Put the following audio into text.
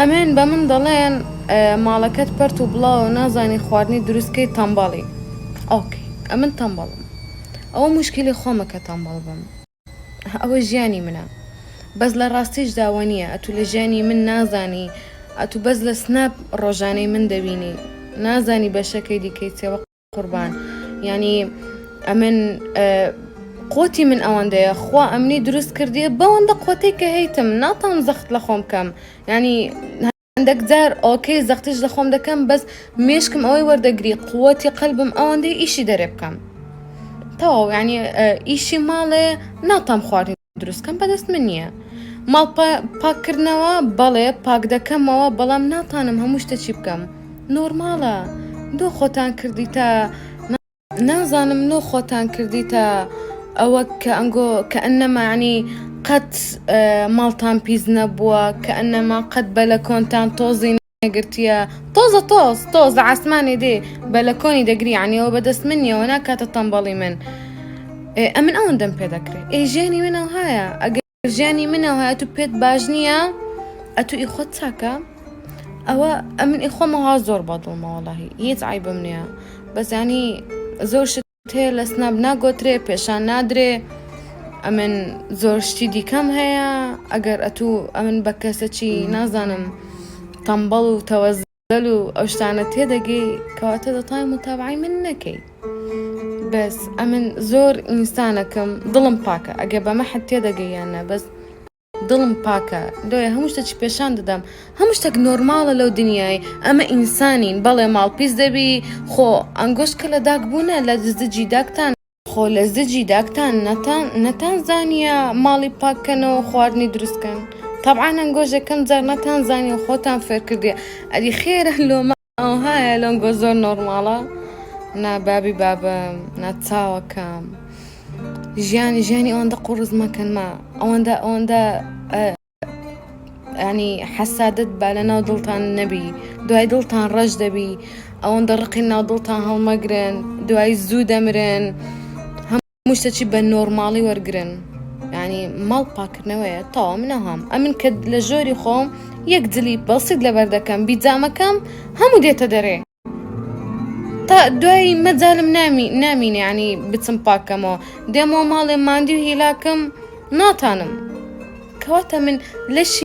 ئەمن بە من دەڵێن ماڵەکەت پەرت و بڵاوە نازانی خواردنی دروستکەی تەمبەڵی ئۆکی ئەمن تەمبەڵم ئەوە مشکلی خۆمە کە تەمبەڵ بم ئەوە ژیانی منە بەس لە ڕاستیش داوە نییە ئەتو لە ژیانی من نازانی ئەتو بەس لە سناپ ڕۆژانەی من دەبینی نازانی بەشەکەی دیکەی چێوە قوربان یانی ئەمن قوتی من ئەوەندەیە خوا ئەمنی دروست کردیە بەوەندە قوتێک کە هەیتم ناتان زەخت لە خۆم کەم ینی هەندێک جار ئۆکەی زەختیش لە خۆم دەکەم بەس مێشکم ئەوەی وەردەگری قوتی قەلبم ئەوەندەی ئیشی دەرێ بکەم تەواو ینی ئیشی ماڵێ ناتام خواردن دروستکەم بەدەست من نییە ماڵ پاککردنەوە بەڵێ پاک دەکەمەوە بەڵام ناتانم هەموو شتە چی بکەم نۆرماڵە دۆ خۆتان کردی تا نازانم نۆ خۆتان کردی تا ئەوە کە ئەنگۆ کە ئەنەمانی قەت ماڵتان پیس نەبووە کە ئەنەما قەت بە لە کۆنتان تۆزین گرتیە تۆزە تۆز تۆزە عسمانێ دێ بە لە کۆنی دەگری عنیەوە بەدەست من نیەوە ناکاتە تەمبەڵی من ئەمن ئەوەن دەم پێ دەکرێت ئێ ژیانی منەوە هایە ئەگەر ژیانی منەوە هەیە تو پێت باش نییە ئەتو ئی خۆت چاکە ئەوە ئەمن ئیخۆمەها زۆر بەدڵمەوەڵی هیچ ئایبم نییە بەزانی زۆر شت تێ لە سناپ ناگۆترێ پێشان نادرێ ئەمن زۆر شتی دیکەم هەیە ئەگەر ئەتوو ئەمن بە کەسەکی نازانم تەمبەڵ و تەوەزەل و ئەو شتانە تێدەگەی کەواتە دەتای متابعی من نەکەی بەس ئەمن زۆر ئینسانەکەم دڵم پاکە ئەگە بەمە حەت تێدەگەیانە بەس دڵم پاکە لۆیە هەموو شتەچی پێشان دەدەم هەموو شتێک نۆرماڵە لەو دنیای ئەمە ئینسانین بەڵێ ماڵ پیس دەبی خۆ ئەنگۆش کە لە داک بوونە لە دزدجی داکتان خۆ لە زجی داکتان نەتان نەتان زانیە ماڵی پاککەنەوە خواردنی دروستکەن تەبعا ئەنگۆش یەکەم جار نەتان زانیە خۆتان فێرکردیە ئەدی خێرە لۆمە. ئەوهایە لۆنگۆ زۆر نۆرماڵە نا بابی بابم نا چاوەکەم ژیانی ژیانی ئەوەندە قوڕز مەکەنمە ئەوەندە ئەوەندە ینی حەسادت با لە ناو دڵتان نەبی دوای دڵتان ڕەش دەبی ئەوەندە ڕقی ناو دڵتان هەڵمەگرن دوای زوو دەمرن. موشتەچی بە نۆرماڵی وەرگرن ینی ماڵ پاکردنەوەیە تاوا منە هەم ئەمن کە لە ژۆری خۆم یەک جلی بەسیت لەبەر دەکەم بیجامەکەم هەموو دێتە دەرێ تا دوایی مەجالم نامی نامینێ ینی بچم پاکەمەوە دێمەوە ماڵێ ماندی و هیلاکم ناتانم کەواتە من لەشی